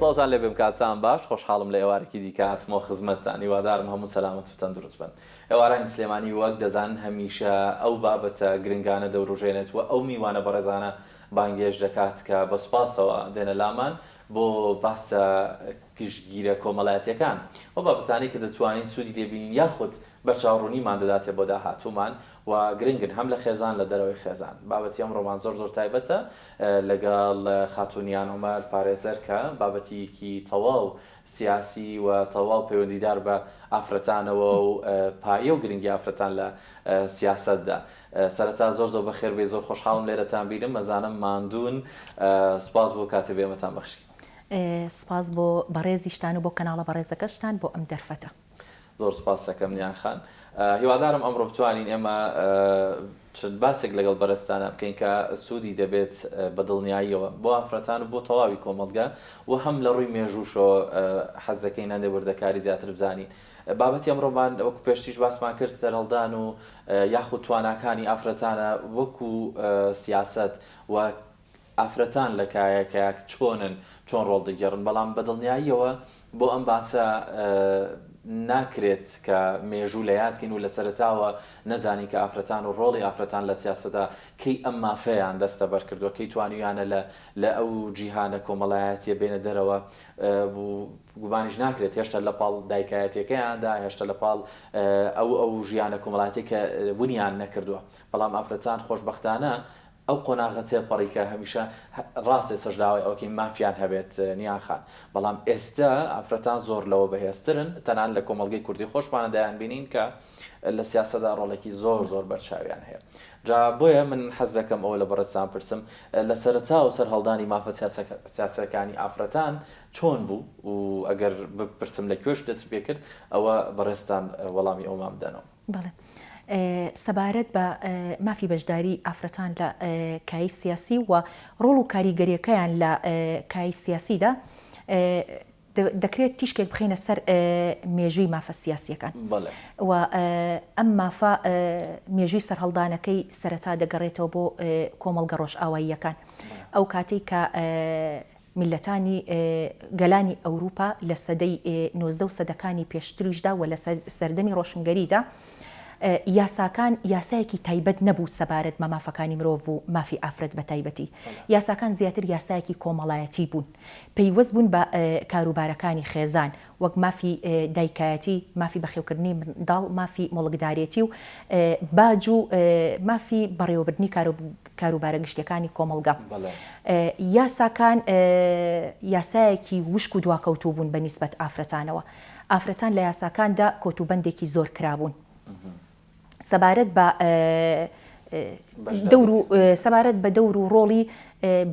سڵاوتان لێبێ بکاتان باش خۆشحاڵم لە ئێوارێکی دیکە هاتمەوە خزمەتتان هیوادارم هەموو سەلامەت و تەندروست بن ئێوارانی سلێمانی وەک دەزانن هەمیشە ئەو بابەتە گرنگانە دەوروژێنێت و ئەو میوانە بەڕێزانە بانگێشت دەکات کە بە سوپاسەوە دێنە لامان بۆ باسە گشتگیرە کۆمەلایەتیەکان ئەو بابەتانەی کە دەتوانین سودی لێبینین یاخود بەرچاوڕونیمان دەداتێ بۆ داهاتومان و گرنگن هەم لە خێزان لە دەرەوەی خێزان. بابەتی ئەمڕۆمان زۆر زۆر تایبەتە لەگەڵ خاتوون یان عومەر پارێزەر کە بابەتیکی تەواو سیاسی و تەواو پەیوەندیدار بە ئافرەتانەوە و پایە و گرنگی ئافرەتان لە سیاسەتدا. سەرەتا زۆر زۆر بەخێر بێی زۆر خۆشحاڵم لێرەتان بینم ئەزانم ماندوون سوپاس بۆ کاتی بێمەتان بەخشی. سوپاس بۆ بەڕێزیشتان و بۆ کەناڵە بەڕێزەکەشتان بۆ ئەم دەرفەتە. زۆر سوپاست دەکەم نیان خان. هیوادارم ئەمڕۆ بتوانین ئێمە چەند باسێک لەگەڵ بەرەزتانا بکەین کە سوودی دەبێت بە دڵنیاییەوە بۆ ئافرەتان و بۆ تەواوی کۆمەڵگە و هەم لە ڕووی مێژووشەوە حەز دەکەین هەندێک وردەکاری زیاتر بزانین. بابەتی ئەمڕۆمان وەکو پێشتریش باسمان کرد سەرهەڵدان و یاخود تواناکانی ئافرەتانە وەکو سیاسەت و ئافرەتان لە کایە کایەک چۆنن چۆن ڕۆڵ دەگێڕن بەڵام بە دڵنیاییەوە بۆ ئەم باسە ناکرێت کە مێژوو لە یاد کەین و لە سەرەتاوە نەزانین کە ئافرەتان و ڕۆڵی ئافرەتان لە سیاسەتدا کەی ئەم مافەیان دەستەبەر کردووە کەی توانیویانە لە لە ئەو جیهانە کۆمەڵایەتیە بێنە دەرەوە و گومانیش ناکرێت هێشتا لە پاڵ دایکایەتیەکەیاندا هێشتا لە پاڵ ئەو ئەو ژیانە کۆمەڵاتیە کە ونیان نەکردووە بەڵام ئافرەتان خۆشبەختانە ئەو قۆناغە تێپەڕی کە هەمیشە ڕاستێ سەرژداوای ئەوەکەین مافیان هەبێت نیان خان بەڵام ئێستە ئافرەتان زۆر لەوە بەهێزترن تەنانەت لە کۆمەڵگەی کوردی خۆشمانە دەیانبینین کە لە سیاسەتدا ڕۆڵێکی زۆر زۆر بەرچاویان هەیە جا بۆیە من حەز دەکەم ئەوە لە بەڕێزتان پرسم لە سەرەتا و سەرهەڵدانی مافە سیاسیەکانی ئافرەتان چۆن بوو و ئەگەر بپرسم لە کوێش دەستی پێکرد ئەوە بەڕێزتان وەڵامی ئەومان بدەنەوە. بەڵێ سەبارەت بە مافی بەشداری ئافرەتان لە کایی سیاسی و ڕۆڵ و کاریگەریەکەیان لە کایی سیاسیدا دەکرێت تیشکێک بخینە سەر مێژووی مافە سیاسیەکان و ئەم مافە مێژووی سەررهڵدانەکەی سەرەتا دەگەڕێتەوە بۆ کۆمەڵگە ڕۆژئاواییەکان ئەو کاتێک کە میللەتانی گەلانی ئەوروپا لە سەدەی نۆزدە و سەدەکانی پێشتریشدا و لە سەردەمی ڕۆشنگەریدا یاساکان یاسایەکی تایبەت نەبوو سەبارەت بە مافەکانی مرۆڤ و مافی ئافرەت بە تایبەتی یاساکان زیاتر یاسایەکی کۆمەڵایەتی بوون پەیوەست بوون بە کاروبارەکانی خێزان وەک مافی دایکایەتی، مافی بەخێوکردنی منداڵ، مافی موڵکدارێتی و باج و مافی بەڕێوەبردنی کاروبارە گشتییەکانی کۆمەڵگە. یاساکان یاسایەکی وشک و دواکەوتوو بوون بە نیسبەت ئافرەتانەوە. ئافرەتان لە یاساکاندا کۆتوبەندێکی زۆر کرابوون. سەبارەت بە دەور و سەبارەت بە دەور و ڕۆڵی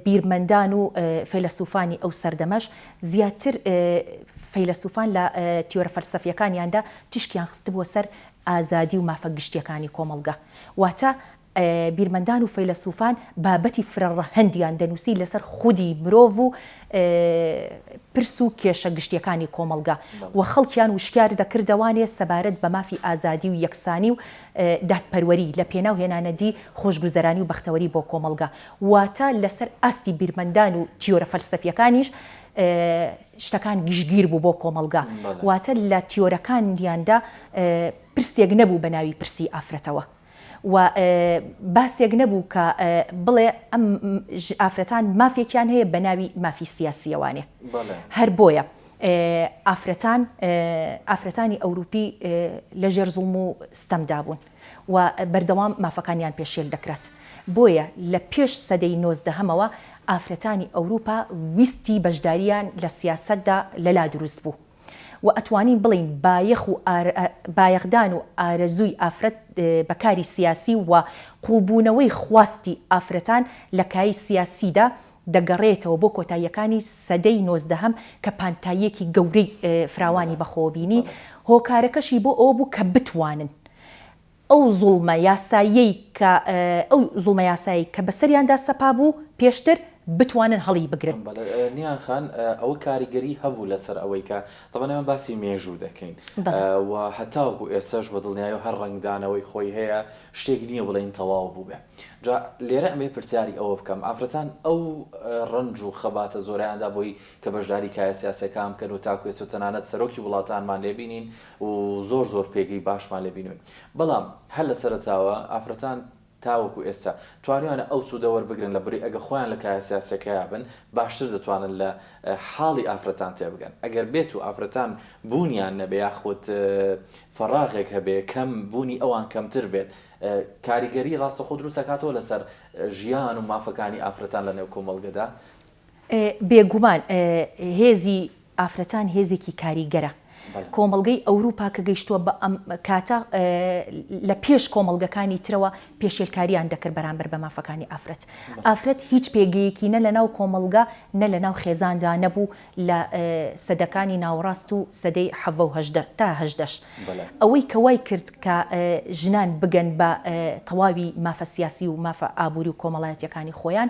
بیرمەندان و فەیلەسووفانی ئەو سەردەمەش، زیاتر فەیلەسووفان لە تیۆرە فەلسەفییەکانیاندا تیشکیان خستبووە سەر ئازادی و مافە گشتییەکانی کۆمەڵگە، واتە بیرمەندان و فەیلەسوفان بابەتی فرەڕەهەندیان دەنووسی لەسەر خودی مرۆڤ و پرس و کێشە گشتیەکانی کۆمەڵگا و خەڵکیان وشکیار دەکردەوانێ سەبارەت بە مافی ئازادی و یەکسانی و دادپەروەری لە پێناو هێنانەدی خۆشگوزەرانی و بەختەوەری بۆ کۆمەڵگا واتە لەسەر ئاستی بیرمەندان و تیۆرە فەلسەفیەکانیش شتەکان گشتگیر بوو بۆ کۆمەڵگا واتە لە تیۆرەکانیاندا پرسێک نەبوو بە ناوی پرسی ئافرەتەوە. و باسێک نەبوو کە بڵێ ئەم ئافرەتان مافێکیان هەیە بە ناوی مافی سیاسیەوانێ هەر بۆیە ئافرەتان ئافرەتانی ئەوروپی لە ژێر زوڵم و ستەمدا بوون و بەردەوام مافەکانیان پێشێل دەکرات بۆیە لە پێش سەدەی نۆزدەهەمەوە ئافرەتانی ئەوروپا ویستی بەشداریان لە سیاستدا لەلا دروست بوو و ئەتوانین بڵێین بایەخ و بایەخدان و ئارەزووی ئافرەت بە کاری سیاسی و قووڵبوونەوەی خواستی ئافرەتان لە کایەی سیاسیدا دەگەڕێتەوە بۆ کۆتاییەکانی سەدەی نۆزدەهەم کە پانتاییەکی گەورەی فراوانی بەخۆوە بینی هۆکارەکەشی بۆ ئەوە بوو کە بتوانن ئەو زوڵمە یاساییەی کە ئەو زوڵمە یاسایەی کە بەسەریاندا سەپابوو پێشتر بتوانن هەڵیبگرن. بەڵێ نیهان خان ئەوە کاریگەری هەبوو لەسەر ئەوەی کە تەبەن ئێمە باسی مێژوو دەکەین و هەتاوەکو ئێستاش بە دڵنیایی و هەر ڕەنگدانەوەی خۆی هەیە شتێک نییە بڵێین تەواو بووبێ جا لێرە ئەمەوێ پرسیاری ئەوە بکەم ئافرەتان ئەو ڕەنج و خەباتە زۆرەیاندا بۆی کە بەشداری کایە سیاسیەکان بکەن و تاکو ئێستا تەنانەت سەرۆکی وڵاتانمان لێ بینین و زۆر زۆر پێگەی باشمان لێ بینوون بەڵام هەر لە سەرەتاوە ئافرەتان تاوەکو ئێستا توانیانە ئەو سوودە وەربگرن لە بری ئەگە خۆیان لە کایە سیاسیەکەیا بن باشتر دەتوانن لە حاڵی ئافرەتان تێبگەن ئەگەر بێتو ئافرەتان بوونیان نەبێ یاخود فەڕاغێک هەبێ کەم بوونی ئەوان کەمتر بێت کاریگەری ڕاستەخۆ دروست ئەکاتەوە لەسەر ژیان و مافەکانی ئافرەتان لە نێو کۆمەڵگەدا بێگومان هێزی ئافرەتان هێزێکی کاریگەرە. کۆمەڵگەی ئەوروپا کە گەیشتووە بە ئەم کاتە لە پێش کۆمەڵگەکانی ترەوە پێشێلکاریان دەکرد بەرامبەر بە مافەکانی ئافرەت. ئافرەت هیچ پێگەیەکی نە لە ناو کۆمەڵگە نە لە ناو خێزاندا نەبوو لە سەدەکانی ناوەڕاست و سەدەی حەڤە و هەژدە تا هەژدەش. ئەوەی کە وای کرد کە ژنان بگەن بە تەواوی مافە سیاسی و مافە ئابووری و کۆمەڵایەتییەکانی خۆیان،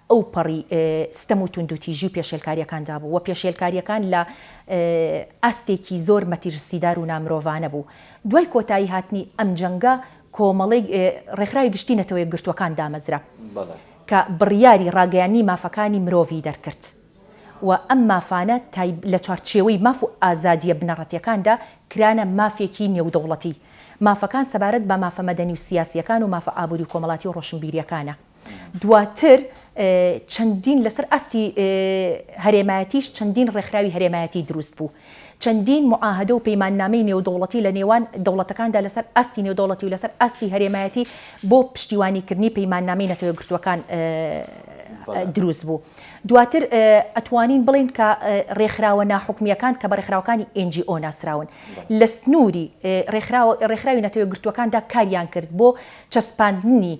ئەوپەڕی ستەم و توندوتیژی و پێشێلکارییەکاندا بوو و پێشێلکارییەکان لە ئاستێکی زۆر مەتیرسیدار و نامرۆڤانە بوو. دوای کۆتایی هاتنی ئەم جەنگە کۆمەڵیک ڕێکخراوی گشتی نەتەوەیەکگرتووەکان دامەزرا کە بڕیاری ڕاگەیاننی مافەکانی مرۆڤی دەرکرد و ئەم مافانە لە چوارچێوەی ماف و ئازادییە بنەڕەتییەکاندا کرانە مافێکی نێودەوڵەتی. مافەکان سەبارەت بە مافە مەدەنی و سیاسییەکان و مافە ئابووری و کۆمەڵاتی و ڕۆشنبیرییەکانە. دواتر چەندین لەسەر ئاستی هەرێمایەتیش چەندین ڕێکخراوی هەرێمایەتی دروست بوو چەندین معاهدە و پەیماننامەی نێودەوڵەتی لە نێوان دەوڵەتەکاندا لەسەر ئاستی نێودەوڵەتی و لەسەر ئاستی هەرێمایەتی بۆ پشتیوانیکردنی پەیماننامەی نەتەوە گرتووەکان دروست بوو دواتر ئەتوانین بڵین کە ڕێکخراوە ناحکومیەکان کە بە ڕێکخراوەکانی ئنجی ئۆ ناسراون لە سنووری ڕێکخراوی نەتەوە گرتووەکاندا کاریان کرد بۆ چەسپاندنی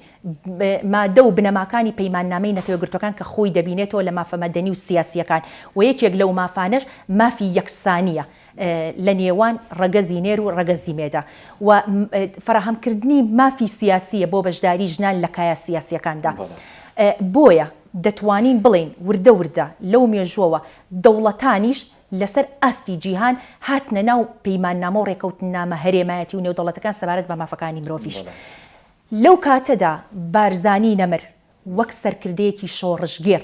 مادە و بنەماکانی پەیماننامەی نەتەوەیەکگرتووەکان کە خۆی دەبینێتەوە لە مافە مەدەنی و سیاسییەکان و یەکێک لەو مافانەش مافی یەکسانییە لە نێوان ڕەگەزی نێر و ڕەگەزی مێدا و فەراهەمکردنی مافی سیاسییە بۆ بەشداری ژنان لە کایە سیاسییەکاندا بۆیە دەتوانین بڵێین وردە وردە لەو مێژووەوە دەوڵەتانیش لەسەر ئاستی جیهان هاتنە ناو پەیماننامە و ڕێکەوتننامە هەرێمایەتی و نێودەوڵەتەکان سەبارەت بە مافەکانی مرۆڤیش لەو کاتەدا بارزانی نەمر وەک سەرکردەیەکی شۆڕشگێڕ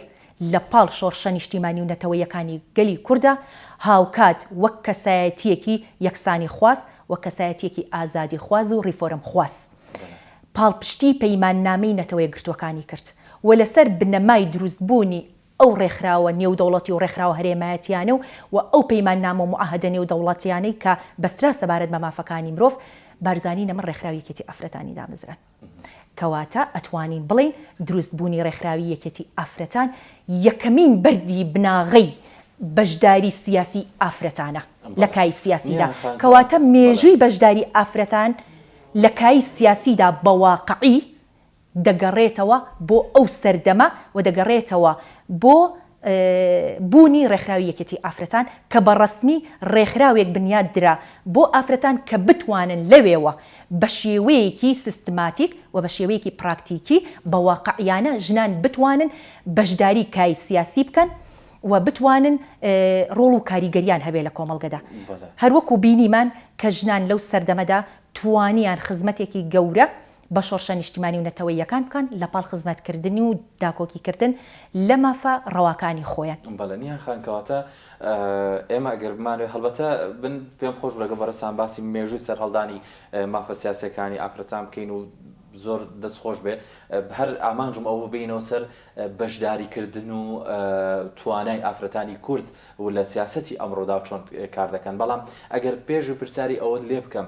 لە پاڵ شۆڕشە نیشتیمانی و نەتەوەیەکانی گەلی کورددا، هاوکات وەک کەسایەتییەکی یەکسانیخواز و کەسایەتییەکی ئازادیخواز و ڕیفۆرمخواز پاڵپشتیی پەیماننامەی نەتەوەیەکگرتووەکانی کرد و لەسەر بنەمای دروستبوونی ئەو ڕێکخراوە نێودەوڵەتی و ڕێکخراوە هەرێمایەتییانە و و ئەو پەیماننامە و موعاهەدە نێودەوڵەتییانەی کە بەسترا سەبارەت بە مافەکانی مرۆڤ، بارزانی نەمر ڕێکخراوی یەکێتی ئافرەتانی دامەزراند. کەواتە ئەتوانین بڵێین دروست بوونی ڕێکخراوی یەکێتی ئافرەتان یەکەمین بەردی بناغەی بەشداری سیاسی ئافرەتانە لە کای سیاسیدا. کەواتە مێژووی بەشداری ئافرەتان لە کای سیاسیدا بە واقعی دەگەڕێتەوە بۆ ئەو سەردەمە و دەگەڕێتەوە بۆ بوونی ڕێکخراوی یەکێتی ئافرەتان کە بە ڕەسمی ڕێکخراوێک بنیات درا بۆ ئافرەتان کە بتوانن لەوێوە بە شێوەیەکی سیستماتیک و بە شێوەیەکی پراکتیکی بە واقعیانە ژنان بتوانن بەشداری کای سیاسی بکەن و بتوانن ڕۆڵ و کاریگەریان هەبێ لە کۆمەڵگەدا هەروەکو بینیمان کە ژنان لەو سەردەمەدا توانیان خزمەتێکی گەورە بە شۆڕشە نیشتیمانی و نەتەوەییەکان بکەن لە پاڵ خزمەت کردن و داکۆکی کردن لە مافە ڕەواکانی خۆیان. بەڵێ نیهان خان کەواتە ئێمە گەر بمانەوێت هەڵبەتە من پێم خۆش بوو لەگەڵ بەڕێزتان باسی مێژووی سەرهەڵدانی مافە سیاسیەکانی ئافرەتان بکەین و زۆر دەست خۆش بێت هەر ئامانجم ئەوە بوو بێینەوە سەر بەشداری کردن و توانای ئافرەتانی کورد و لە سیاسەتی ئەمڕۆدا چۆن کار دەکەن بەڵام ئەگەر پێشوی پرسیاری ئەوەت لێ بکەم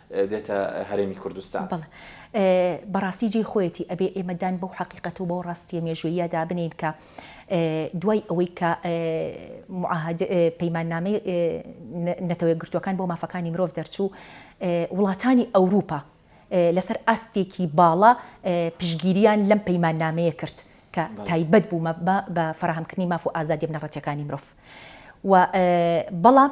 دێتە هەرێمی کوردستان. بەڵێ بەڕاستی جێی خۆیەتی ئەبێ ئێمە دان بەو حەقیقەت و بەو ڕاستییە مێژووییە دابنێین کە دوای ئەوەی کە معاهدە پەیماننامەی نەتەوە یەکگرتووەکان بۆ مافەکانی مرۆڤ دەرچوو وڵاتانی ئەوروپا لەسەر ئاستێکی باڵا پشگیریان لەم پەیماننامەیە کرد کە تایبەت بوو بە فراهەمکردنی ماف و ئازادی بنەڕەتیەکانی مرۆڤ و بەڵام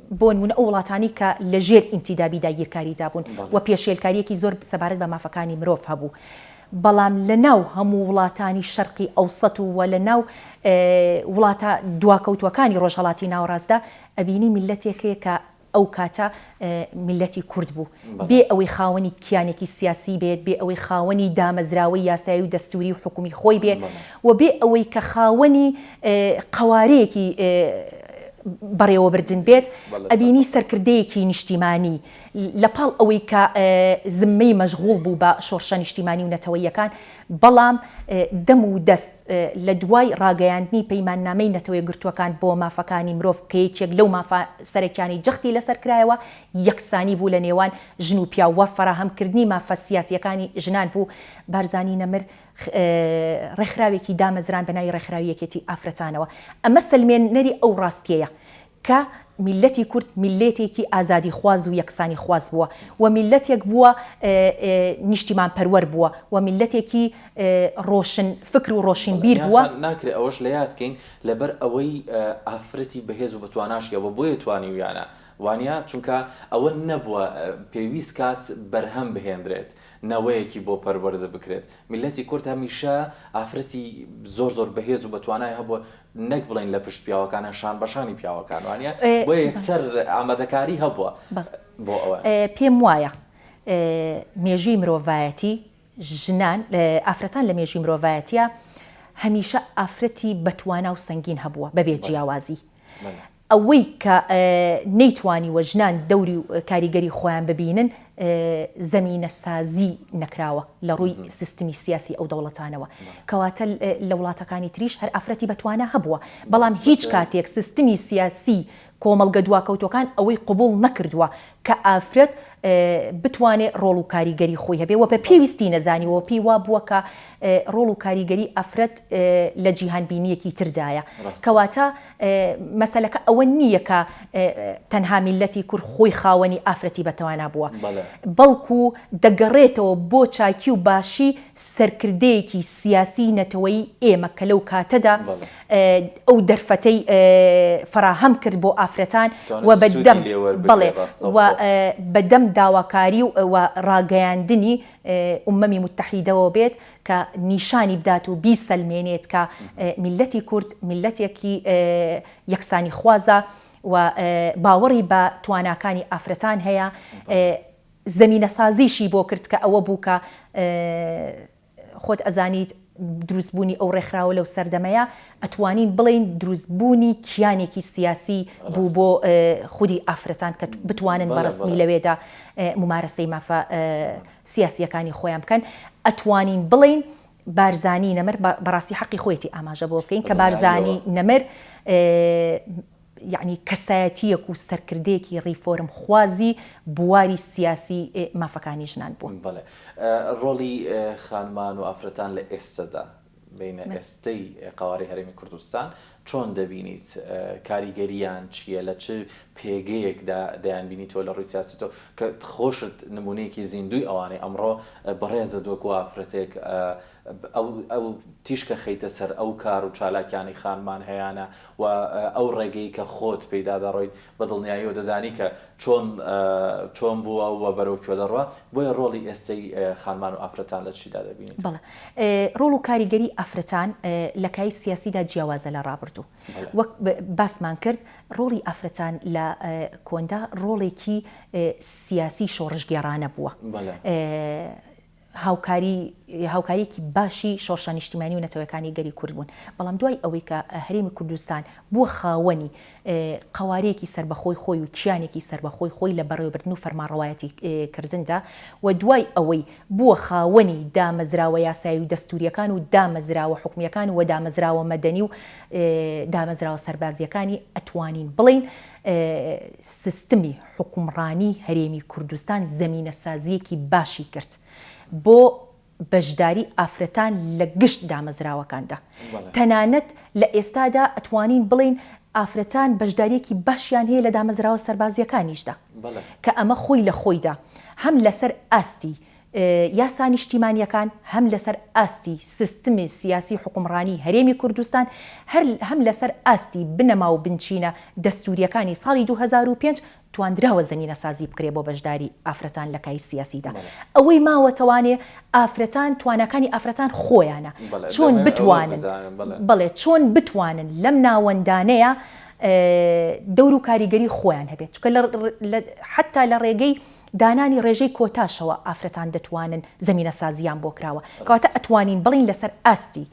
بۆنمونە ئەو وڵاتانەی کە لە ژێر ئینتیدابی داگیرکاریدا بوون و پێشێلکاریەکی زۆر سەبارەت بە مافەکانی مرۆڤ هەبوو بەڵام لە ناو هەموو وڵاتانی شەرقی ئەوسەت و وە لە ناو وڵاتە دواکەوتوەکانی ڕۆژهەڵاتی ناوەڕاستدا ئەبینی میلەتێک هەیە کە ئەو کاتە میلەتی کورد بوو. بێ ئەوەی خاوەنی کیانێکی سیاسی بێت، بێ ئەوەی خاوەنی دامەزراوەی یاسایی و دەستووری و حکومی خۆی بێت و بێ ئەوەی کە خاوەنی قەوارەیەکی بەڕێوەبردن بێت، ئەبینی سەرکردەیەکی نیشتیمانی لە پاڵ ئەوەی کە زممەی مەشغوڵ بوو بە شۆڕشە نیشتیمانی و نەتەوەییەکان، بەڵام دەم و دەست لە دوای ڕاگەیاندنی پەیماننامەی نەتەوەیەکگرتووەکان بۆ مافەکانی مرۆڤ کە یەکێک لەو مافە سەرەکیانەی جەختی لەسەر کرایەوە، یەکسانی بوو لە نێوان ژن و پیاو و فەراهەم کردنی مافە سیاسییەکانی ژنان بوو، بارزانی نەمر ڕێکخراوێکی دامەزراند بە ناوی ڕێکخراوی یەکێتی ئافرەتانەوە، ئەمە سەلمێنەری ئەو ڕاستییەیە کە میللەتی کورد میللێتێکی ئازادیخواز و یەکسانیخواز بووە و میللەتێک بووە نیشتیمان پەروەر بووە و میللەتێکی ڕۆشن فکر و ڕۆشین بیر بووە. ناکرێ ئەوەش لە یاد کەین لە بەر ئەوەی ئافرەتی بەهێز و بەتواناش هەیە و بۆیە توانیویانە وانیە؟ چونکە ئەوە نەبووە پێویست کات بەرهەم بهێندرێت نەوەیەکی بۆ پەروەردە بکرێت میللەتی کورد هەمیشە ئافرەتی زۆر زۆر بەهێز و بەتوانای هەبووە نەک بڵێین لە پشت پیاوەکانە شان بەشانی پیاوەکان وانیە؟ بۆیە یەکسەر ئامادەکاری هەبووە بۆ ئەوە. پێم وایە مێژووی مرۆڤایەتی ژنان ئافرەتان لە مێژووی مرۆڤایەتیا هەمیشە ئافرەتی بەتوانا و سەنگین هەبووە بەبێ جیاوازی ئەوەی کە نەیتوانیوە ژنان دەوری و کاریگەری خۆیان ببینن زەمینەسازی نەکراوە لە ڕووی سیستمی سیاسی ئەو دەوڵەتانەوە کەواتە لە وڵاتەکانی تریش هەر ئافرەتی بە توانا هەبووە بەڵام هیچ کاتێک سیستمی سیاسی کۆمەڵگە دواکەوتووەکان ئەوەی قبوڵ نەکردووە کە ئافرەت بتوانێ ڕۆڵ و کاریگەری خۆی هەبێ وە بە پێویستی نەزانیوە پێی وا بووە کە ڕۆڵ و کاریگەری ئافرەت لە جیهانبینیەکی تردایە کەواتە مەسەلەکە ئەوە نییە کە تەنها میللەتی کورد خۆی خاوەنی ئافرەتی بەتوانا بووە، بەڵکو دەگەڕێتەوە بۆ چاکی و باشی سەرکردەیەکی سیاسیی نەتەوەیی ئێمە کە لەو کاتەدا ئەو دەرفەتەی فەراهەم کرد بۆ ئافرەتان و بەدەم بەڵێ و بەدەم داواکاری و ڕاگەیاندنی ئومەمی موتەحیدەوە بێت. کە نیشانی بدات و بیسەلمێنێت کە میللەتی کورد میللەتێکی یەکسانیخوازە و باوەڕی بە تواناکانی ئافرەتان هەیە، زەمینەسازیشی بۆ کرد کە ئەوە بوو کە خۆت ئەزانیت دروستبوونی ئەو ڕێکخراوە لەو سەردەمەیە ئەتوانین بڵێین دروستبوونی کیانێکی سیاسی بوو بۆ خودی ئافرەتان کە بتوانن بە ڕەسمی لەوێدا ممارەسەی مافە سیاسیەکانی خۆیان بکەن ئەتوانین بڵێین بارزانی نەمر بەڕاستی حەقی خۆیەتی ئاماژە بۆ بکەین کە بارزانی نەمر یعنی کەسایەتیەک و سەرکردەیەکی ڕیفۆرم خوازی بواری سیاسی مافەکانی ژنان بوون. بەڵێ ڕۆڵی خانمان و ئافرەتان لە ئێستەدا بینە ئێستەی قەوارەی هەرێمی کوردستان چۆن دەبینیت؟ کاریگەرییان چییە؟ لە چ پێگەیەکدا دەیانبینیتەوە لە ڕووی سیاسی تۆ کە خۆشت نموونەیەکی زیندووی ئەوانەی ئەمڕۆ بەڕێزت وەکوو ئافرەتێک ئەو تیشکە خەیتە سەر ئەو کار و چالاکیانەی خانمان هەیانە و ئەو ڕێگەی کە خۆت پێیدا دەڕۆیت بە دڵنیاییەوە دەزانی کە چۆن چۆن بووە و بەرەو کوێ دەڕوا؟ بۆیە ڕۆڵی ئێستەی خانمان و ئافرەتان لە چیدا دەبینیت؟ بەڵێ ڕۆڵ و کاریگەری ئافرەتان لە کای سیاسیدا جیاوازە لە ڕابردوو. وەک باسمان کرد ڕۆڵی ئافرەتان لە کۆندا ڕۆڵێکی سیاسی شۆڕشگێڕانە بووە. هاوکاری هاوکاریەکی باشی شۆڕشە نیشتیمانی و نەتەوەکانی گەلی کورد بوون بەڵام دوای ئەوەی کە هەرێمی کوردستان بووە خاوەنی قەوارەیەکی سەربەخۆی خۆی و کیانێکی سەربەخۆی خۆی لە بەڕێوەبردن و فەرمانڕەوایەتی کردندا و دوای ئەوەی بووە خاوەنی دامەزراوە یاسایی و دەستوریەکان و دامەزراوە حکومیەکان و دامەزراوە مەدەنی و دامەزراوە سەربازیەکانی ئەتوانین بڵێین سیستمی حوکمڕانیی هەرێمی کوردستان زەمینەسازییەکی باشی کرد بۆ بەشداریی ئافرەتان لە گشت دامەزراوەکاندا. تەنانەت لە ئێستادا ئەتوانین بڵێین ئافرەتان بەشدارییەکی باشیان هەیە لە دامەزراوە سەربازییەکانیشدا، کە ئەمە خۆی لە خۆیدا هەم لەسەر ئاستی یاسا نیشتیمانییەکان هەم لەسەر ئاستی سیستمی سیاسی و حوکمڕانیی هەرێمی کوردستان هەر هەم لەسەر ئاستی بنەما و بنچینە دەستوورییەکانی ساڵی دوو هەزار و پێنج تواندراوە زەمینەسازی بکرێ بۆ بەشداریی ئافرەتان لە کای سیاسیدا ئەوەی ماوەتەوانێ ئافرەتان تواناکانی ئافرەتان خۆیانە چۆن بتوانن بەڵێ چۆن بتوانن لەم ناوەندانەیا دەور و کاریگەری خۆیان هەبێت چونکە لە حەتا لە ڕێگەی دانانی ڕێژەی کۆتاشەوە ئافرەتان دەتوانن زەمینەسازییان بۆ کراوە، کەواتە ئەتوانین بڵێین لەسەر ئاستی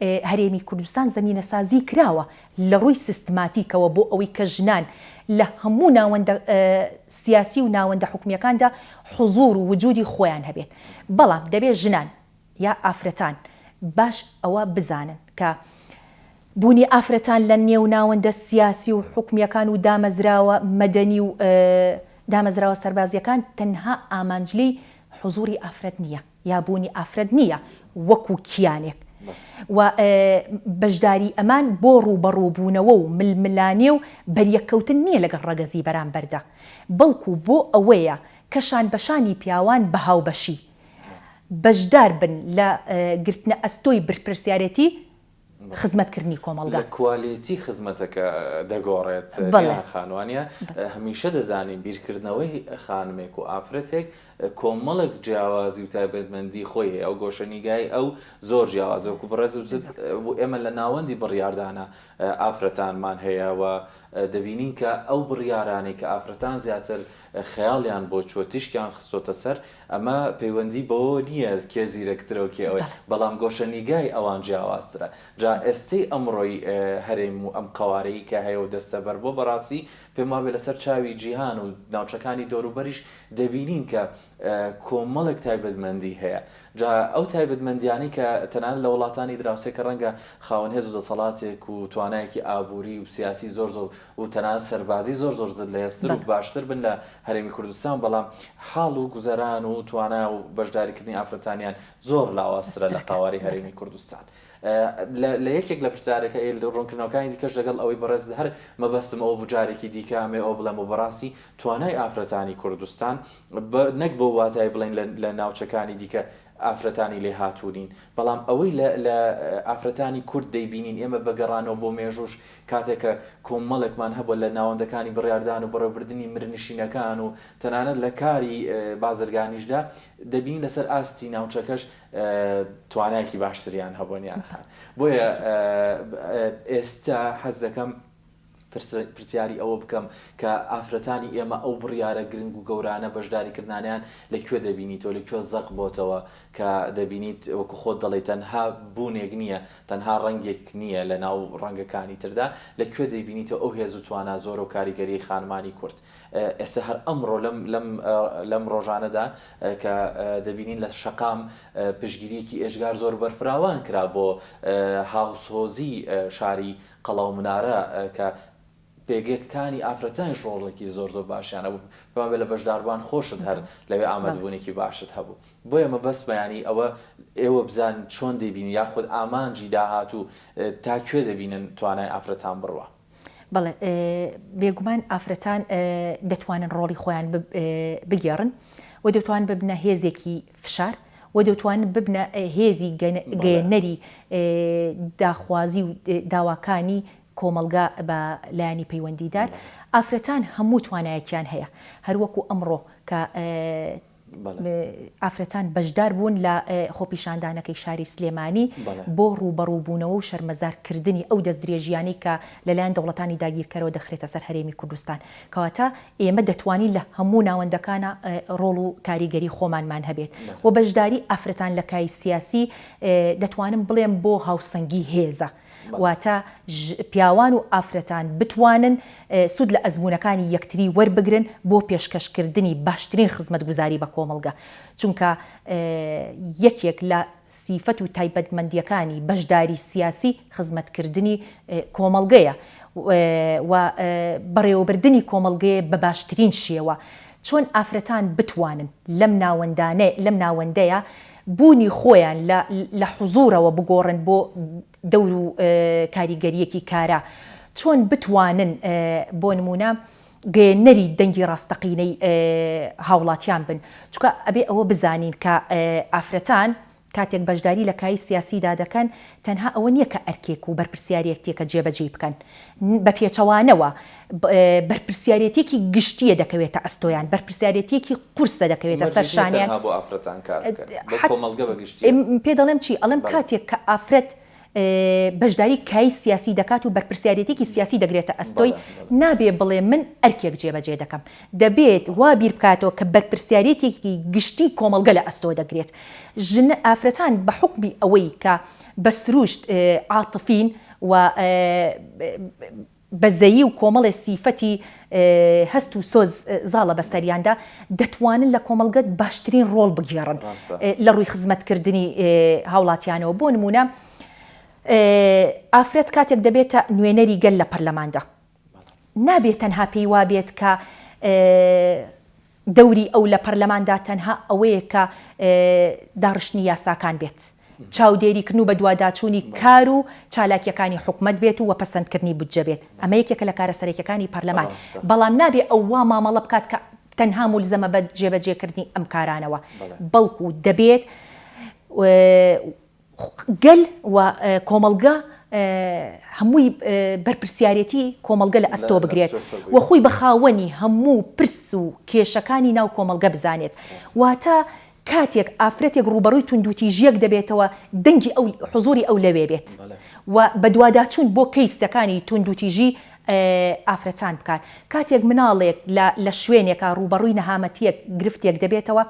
هەرێمی کوردستان زەمینەسازی کراوە لە ڕووی سیستماتیکەوە بۆ ئەوەی کە ژنان لە هەموو ناوەندە سیاسی و ناوەندە حکومییەکاندا حزوور و وجوودی خۆیان هەبێت، بەڵام دەبێت ژنان. یا ئافرەتان باش ئەوە بزانن کە بوونی ئافرەتان لە نێو ناوەندە سیاسی و حکومیەکان و دامەزراوە مەدەنی و دامەزراوە سەربازیەکان تەنها ئامانج لێی حزوری ئافرەت نیە یا بوونی ئافرەت نیە وەکو کیانێک و بەشداری ئەمان بۆ ڕووبەڕوو بوونەوە و ململانێ و بەریەککەوتن نیە لەگەڵ ڕەگەزی بەرامبەردا بەڵکو بۆ ئەوەیە کە شان بەشانی پیاوان بە هاوبەشی بەشدار بن لە گرتنە ئەستۆی بەرپرسیارێتی خزمەتکردنی کۆمەڵگا. لە کوالێتی خزمەتەکە دەگۆڕێت نێها خان وانیە؟ هەمیشە دەزانین بیرکردنەوەی خانمێک و ئافرەتێک کۆمەڵێک جیاوازی و تایبەتمەندی خۆی هەیە و گۆشەنیگای ئەو زۆر جیاوازە وەکو بەڕێز وتت ئێمە لە ناوەندی بڕیاردانە ئافرەتانمان هەیە و دەبینین کە ئەو بڕیارانەی کە ئافرەتان زیاتر خەیاڵیان بۆ چووە تیشکیان خستۆتە سەر، ئەمە پەیوەندی بەوەوە نییە کێ زیرەکترەو کێ ئەوەی، بەڵام گۆشەنیگای ئەوان جیاوازترە، جا ئێستەی ئەمڕۆی هەرێم و ئەم قەوارەی کە هەیەو دەستەبەر بووە بەڕاستی پێم وابێ لەسەر چاوی جیهان و ناوچەکانی دەوروبەریش دەبینین کە کۆمەڵێک تایبەتمەندی هەیە جا ئەو تایبەتمەندیانەی کە تەنانەت لە وڵاتانی دراوسێ کە ڕەنگە خاوەن هێزو دەسەڵاتێک و توانایەکی ئابووری و سیاسی زۆر زۆر و تەنانەت سەربازی زۆر زۆر زل هێزتر و باشتر بن لە هەرێمی کوردستان بەڵام حاڵ و گوزەران و توانا و بەشداری کردنی ئافرەتانیان زۆر لاوازترە لە قاواری هەرێمی کوردستان لە یەکێک لە پرسیارەکە ئێل و ڕوونکردنەوەکانی دیکەش لەگەڵ ئەوەی بەڕێز هەر مەبەستم ئەوە بوو جارێکی دیکە ئەمێ ئەوە بڵێم و بەڕاستی توانای ئافرەتانی کوردستان نەک بەو واتای بڵێن لە ناوچەکانی دیکە ئافرەتانی لێ هاتوو نین، بەڵام ئەوەی لە لە ئافرەتانی کورد دەیبینین، ئێمە بە گەڕانەوە بۆ مێژووش کاتێک کە کۆمەڵێکمان هەبووە لە ناوەندەکانی بڕیاردان و بەڕێوەبردنی مرنشینەکان و تەنانەت لە کاری بازرگانیشدا دەبینین لەسەر ئاستی ناوچەکەش توانایەکی باشتریان هەبووە نیان خان بۆیە ئێستا حەز دەکەم پرسیاری ئەوە بکەم کە ئافرەتانی ئێمە ئەو بڕیارە گرنگ و گەورانە بەشداریکردنانەیان لە کوێ دەبینیتەوە، لە کوێ زەق بۆتەوە کە دەبینیت وەکو خۆت دەڵێی تەنها بوونێک نییە، تەنها ڕەنگێک نییە لە ناو ڕەنگەکانی تردا، لە کوێ دەیبینیتەوە ئەو هێز و توانا زۆرە و کاریگەریەی خانمانی کورد ئێستا هەر ئەمڕۆ لەم ڕۆژانەدا کە دەبینین لە شەقام پشتگیریەکی ئێجگار زۆر بەرفراوان کرا بۆ هاوسۆزی شاری قەڵا و منارە کە پێگەکانی ئافرەتانیش ڕۆڵێکی زۆر زۆر باشیان هەبوو پێمان بێ لە بەشداربووان خۆشت هەر لەوێ بەڵێ. ئامادەبوونێکی باشت هەبوو بۆیە مەبەستمە یانی ئەوە ئێوە بزان چۆن دەیبینن یاخود ئامانجی داهاتوو تا کوێ دەبینن توانای ئافرەتان بڕوا. بەڵێ بێگومان ئافرەتان دەتوانن ڕۆڵی خۆیان بگێڕن و دەتوان ببنە هێزێکی فشار، و دەتوانن ببنە هێزی گەیەنەری داخوازی و داواکانی کۆمەڵگا بە لایەنی پەیوەندیدار. ئافرەتان هەموو توانایەکیان هەیە، هەروەکو ئەمڕۆ کە ئافرەتان بەشدار بوون لە خۆپیشاندانەکەی شاری سلێمانی بۆ ڕووبەڕووبوونەوە و شەرمەزارکردنی ئەو دەستدرێژییانەی کە لەلایەن دەوڵەتانی داگیرکەرەوە دەخرێتە سەر هەرێمی کوردستان. کەواتە ئێمە دەتوانین لە هەموو ناوەندەکانا ڕۆڵ و کاریگەری خۆمانمان هەبێت و بەشداری ئافرەتان لە کای سیاسی دەتوانم بڵێم بۆ هاوسەنگی هێزە واتە پیاوان و ئافرەتان بتوانن سود لە ئەزموونەکانی یەکتری وەربگرن بۆ پێشکەشکردنی باشترین خزمەتگوزاری بە کۆمەڵگە چونکە یەکێک لە سیفەت و تایبەتمەندیەکانی بەشداری سیاسی خزمەتکردنی کۆمەڵگەیە و بەڕێوەبردنی کۆمەڵگەیە بە باشترین شێوە. چۆن ئافرەتان بتوانن لەم ناوەندانەلەم ناوەندەیە بوونی خۆیان لە لە حزوورەوە بگۆڕن بۆ دەور و کاریگەرییەکی کارا؟ چۆن بتوانن بۆ نموونە گەیەنەری دەنگی ڕاستەقینەی هاوڵاتیان بن؟ چونکە ئەبێ ئەوە بزانین کە ئافرەتان کاتێک بەشداری لە کایی سیاسیدا دەکەن، تەنها ئەوە نییە کە ئەرکێک و بەرپرسیاریەتیەکە جێبەجێی بکەن، بە پێچەوانەوە بەرپرسیاریەتیەکی گشتیە دەکەوێتە ئەستۆیان، بەرپرسیاریەتیەکی قورسە دەکەوێتە سەر شانیان. مەرج نییە تەنها بۆ ئافرەتان کار بکەن، بۆ کۆمەڵگە بە گشتی. پێدەڵێم چی؟ ئەڵێم کاتێک کە ئافرەت. بەشداری کای سیاسی دەکات و بەرپرسیاریەتێکی سیاسی دەگرێتە ئەستۆی، نابێ بڵێ من ئەرکێک جێبەجێ دەکەم، دەبێت وا بیر بکاتەوە کە بەرپرسیاریەتێکی گشتی کۆمەڵگە لە ئەستۆ دەگرێت. ژن ئافرەتان بە حوکمی ئەوەی کە بە سروشت عاتفین و بەزەیی و کۆمەڵێ سیفەتی هەست و سۆز زاڵە بەسەریاندا، دەتوانن لە کۆمەڵگە باشترین ڕۆڵ بگێڕن لە ڕووی خزمەتکردنی هاوڵاتیانەوە، بۆ نموونە ئافرەت کاتێک دەبێتە نوێنەری گەل لە پەرلەماندا، نابێت تەنها پێی وابێت کە دەوری ئەو لە پەرلەماندا تەنها ئەوەیە کە داڕشتنی یاساکان بێت، چاودێریکردن و بەدواداچوونی کار و چالاکییەکانی حکومەت بێت و پەسەندکردنی بودجە بێت، ئەمە یەکێکە لە کارە سەرەکییەکانی پەرلەمان، بەڵام نابێت ئەو وا مامەڵە بکات کە تەنها مولزەمە بە جێبەجێکردنی ئەم کارانەوە، بەڵکو دەبێت. گەل و کۆمەڵگە هەمووی بەرپرسیارێتی کۆمەڵگە لە ئەستۆ بگرێت و خۆی بە خاوەنی هەموو پرس و کێشەکانی ناو کۆمەڵگە بزانێت واتە کاتێک ئافرەتێک ڕووبەڕووی توندوتیژیەک دەبێتەوە دەنگی ئەو حزوری ئەو لەوێ بێت و بەدواداچوون بۆ کەیستەکانی توندوتیژی ئافرەتان بکات کاتێک مناڵێک لە شوێنێکە ڕووبەڕووی نەهامەتیەک گرفتێک دەبێتەوە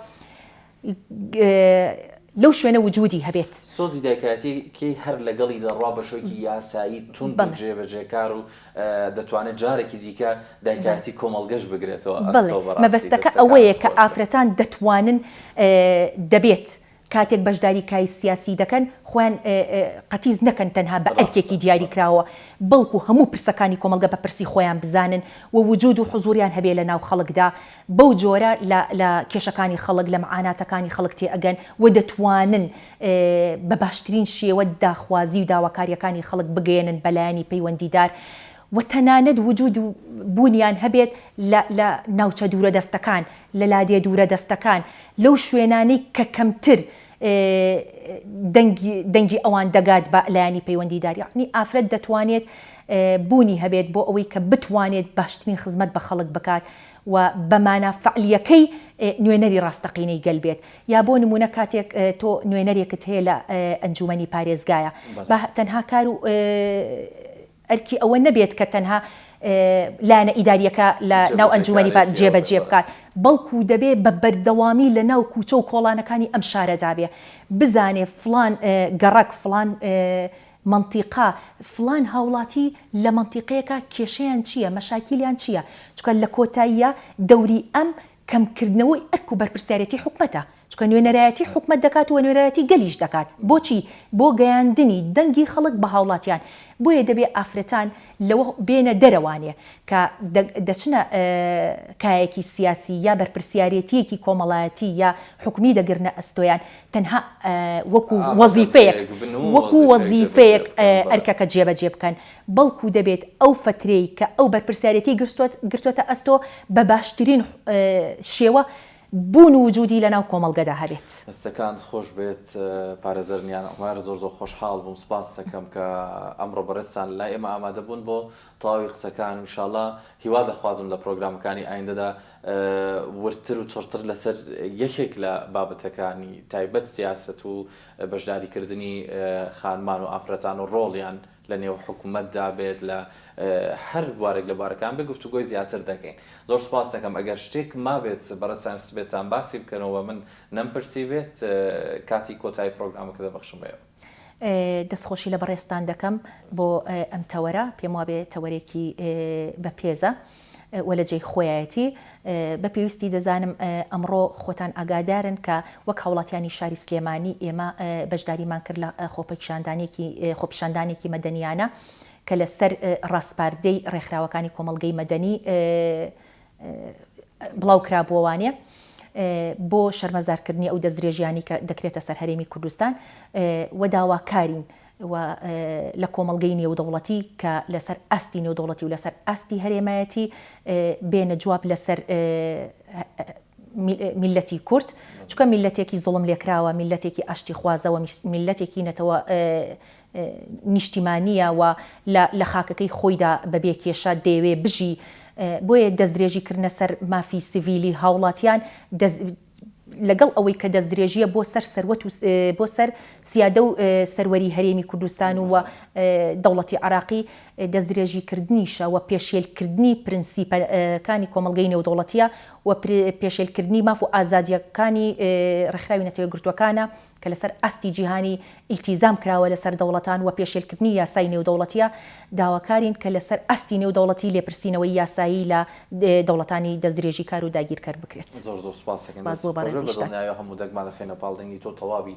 لەو شوێنە وجودی هەبێت. سۆزی دایکایەتیی هەر لەگەڵی دەڕوا بە شێوەیەکی یاسایی توند و جێبەجێکار و دەتوانێت جارێکی دیکە دایکایەتیی کۆمەڵگەش بگرێتەوە ئەستۆ بەڕاستی. بەڵێ، مەبەستەکە ئەوەیە کە ئافرەتان دەتوانن، دەبێت کاتێک بەشداریی کای سیاسی دەکەن، خۆیان قەتیس نەکەن تەنها بە ئەرکێکی دیاریکراوەوە، بەڵکو هەموو پرسەکانی کۆمەڵگە بە پرسی خۆیان بزانن و وجود و حزووریان هەبێت لەناو خەڵکدا بەو جۆرە لە لە کێشەکانی خەڵک، لە مەعاناتەکانی خەڵک تێئەگەن و دەتوانن بە باشترین شێوە داخوازی و داواکارییەکانی خەڵک بگەیەنن بە لایەنی پەیوەندیدار و تەنانەت وجوود و بوونیان هەبێت لە لە ناوچە دوورەدەستەکان، لە لادێ دوورەدەستەکان، لەو شوێنانەی کە کەمتر دەنگی دەنگی ئەوان دەگات بە لایەنی پەیوەندیدار. یەعنی ئافرەت دەتوانێت بوونی هەبێت بۆ ئەوەی کە بتوانێت باشترین خزمەت بە خەڵک بکات. و بە مانا فعلییەکەی نوێنەری ڕاستەقینەی گەل بێت، یا بۆ نموونە کاتێک تۆ نوێنەرێکت هەیە لە ئەنجوومەنی پارێزگایە، با تەنها کار و ئەرکی ئەوە نەبێت کە تەنها لایەنە ئیدارییەکە لە ناو ئەنجوومەنی پار جێبەجێ بکات، بەڵکوو دەبێ بە بەردەوامی لە ناو کووچە و کۆڵانەکانی ئەم شارەدا بێ، بزانێ فڵان گەڕەک، فڵان مەنتیقە، فڵان هاوڵاتی لە مەنتیقەیەکە کێشەیان چییە، مەشاکیلیان چییە، چونکە لە کۆتاییا دەوری ئەم کەم کردنەوەی ئەرک و بەرپرسیارێتی حکومەتە، چونکە نوێنەرایەتی حکومەت دەکات و نوێنەرایەتی گەلیش دەکات، بۆچی؟ بۆ گەیاندنی دەنگی خەڵک بە هاوڵاتیان، بۆیە دەبێ ئافرەتان لەوە بێنە دەرەوانێ کە دەچنە کایەکی سیاسی یا بەرپرسیارێتییەکی کۆمەڵایەتی یا حکومی دەگرنە ئەستۆیان تەنها وەکو وەزیفەیەک وەکو وەزیفەیەک ئەرکەکە جێبەجێ بکەن بەڵکو دەبێت ئەو فەترەی کە ئەو بەرپرسیارێتی گرتووەتە ئەستۆ بە باشترین شێوە بوون و وجودی لەناو کۆمەڵگەدا هەبێت. دەستەکانت خۆش بێت پارێزەر نیان عومەر زۆر زۆر خۆشحاڵ بووم سوپاستەکەم کە ئەمڕۆ بەڕێزتان لای ئێمە ئامادە بوون بۆ تەواوی قسەکان ان شاءاللە هیواد ئەخوازم لە پڕۆگرامەکانی ئایندەدا وردتر و چڕتر لەسەر یەکێک لە بابەتەکانی تایبەت سیاسەت و بەشداریکردنی خانمان و ئافرەتان و ڕۆڵیان لە نێو حکومەتدا بێت لە هەر بوارێک لە بوارەکان بێت گفتوگۆی زیاتر دەکەین. زۆر سوپاست دەکەم ئەگەر شتێک مابێت بەڕێز سایمسبێتتان باسی بکەنەوە و من نەمپرسیبێت کاتی کۆتایی پڕۆگرامەکە دەبەخشم بە ئێوە. دەستخۆشی لە بەڕێزتان دەکەم بۆ ئەم تەوەرە، پێموابێ تەوەرێکی بە پێزە. و لە جێی خۆیایەتی، بە پێویستی دەزانم ئەمڕۆ خۆتان ئاگادارن کە وەک هاوڵاتیانی شاری سلێمانی ئێمە بەشداریمان کرد لە خۆپیشاندانێکی خۆپیشاندانێکی مەدەنیانە کە لە سەر ڕاسپاردەی ڕێکخراوەکانی کۆمەڵگەی مەدەنی بڵاو کرابووەوانێ بۆ شەرمەزارکردنی ئەو دەستدرێژیانی کە دەکرێتە سەر هەرێمی کوردستان و داواکارین و لە کۆمەڵگەی نێودەوڵەتی کە لەسەر ئاستی نێودەوڵەتی و لەسەر ئاستی هەرێمایەتی بێنە جواب لەسەر میللەتی کورد چونکە میللەتێکی زوڵم لێکراوە میللەتێکی ئاشتی خوازە و میللەتێکی نەتەوە نیشتیمانیە و لە خاکەکەی خۆیدا بەبێ کێشە دەیەوێ بژی بۆیە دەستدرێژی کردنە سەر مافی سڤیلی هاوڵاتیان لەگەڵ ئەوەی کە دەستدرێژییە بۆ سەر سەروەت و بۆ سەر سیادە و سەروەری هەرێمی کوردستان و دەوڵەتی عێراقی دەستدرێژیکردنیشە و پێشێلکردنی پرنسیپەکانی کۆمەڵگەی نێودەوڵەتییە و پێشێلکردنی ماف و ئازادییەکانی ڕێکخراوی نەتەوە یەکگرتووەکانە کە لەسەر ئاستی جیهانی ئیلتیزام کراوە لەسەر دەوڵەتان و پێشێلکردنی یاسای نێودەوڵەتییە، داواکارین کە لەسەر ئاستی نێودەوڵەتی لێپرسینەوەی یاسایی لە دەوڵەتانی دەستدرێژیکار و داگیرکەر بکرێت. زۆر زۆر سوپاست دەکەم دەست خۆش بێت بە دڵنیایەوە هەموو دەگمان دەخەینە پاڵ دەنگی تۆ تەواوی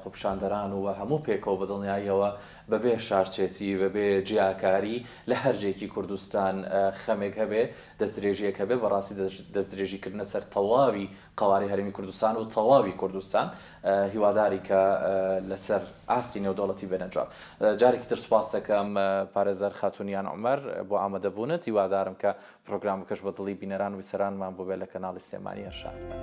خۆپیشاندەران و هەموو پێکەوە بە دڵنیاییەوە بە بێ شارچێتی بە بێ جیاکاری لە هەر جێکی کوردستان خەمێک هەبێ دەستدرێژیەک هەبێ بەڕاستی دەستدرێژی کردنە سەر تەواوی قەوارەی هەرێمی کوردستان و تەواوی کوردستان هیوادارین کە لەسەر ئاستی نێودەوڵەتی بێنە جواب. جارێکی تر سوپاست دەکەم پارێزەر خاتوون یان عومەر بۆ ئامادەبوونت، هیوادارم کە پرۆگرامەکەش بە دڵی بینەران و بیسەرانمان بووبێت لە کەناڵی سلێمانی ئەرشاد.